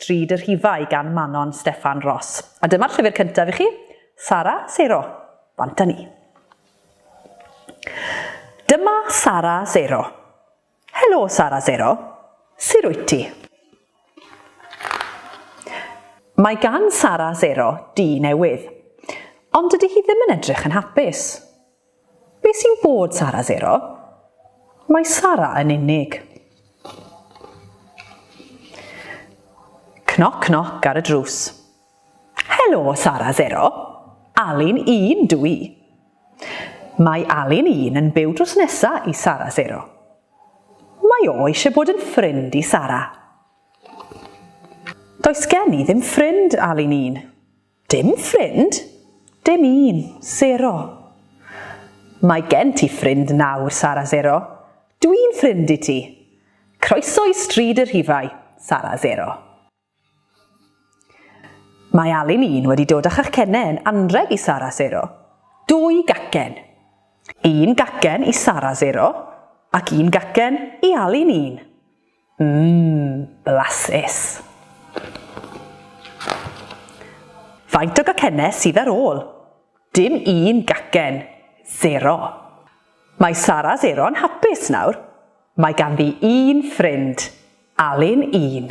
Drud y Rhifau gan Manon Steffan Ros. A dyma'r llyfr cyntaf i chi, Sara, Seiro, bant a ni. Dyma Sara Seiro. Helo Sara Seiro. Sir wyt ti? Mae gan Sara Seiro dŷ newydd. Ond dydy hi ddim yn edrych yn hapus. Be sy'n bod Sara Zero? Mae Sara yn unig. Cnoc cnoc ar y drws. Helo Sara Zero. Alun un dw i. Mae Alun un yn byw drws nesa i Sara Zero. Mae o eisiau bod yn ffrind i Sara. Does gen i ddim ffrind, Alun un. Dim ffrind? Dim un. Sero. Mae gen ti ffrind nawr, Sara Sero. Dw i'n ffrind i ti. Croeso i Stryd y Rhifau, Sara Sero. Mae Alun un wedi dod â chacenne yn anrheg i Sara Sero. Dwy gacen. Un gacen i Sara Sero ac un gacen i Alun un. Mmm, blasus! Faint o gacennau sydd ar ôl? Dim un gacen. Zero. Mae Sara Zero yn hapus nawr. Mae ganddi un ffrind. Alun un.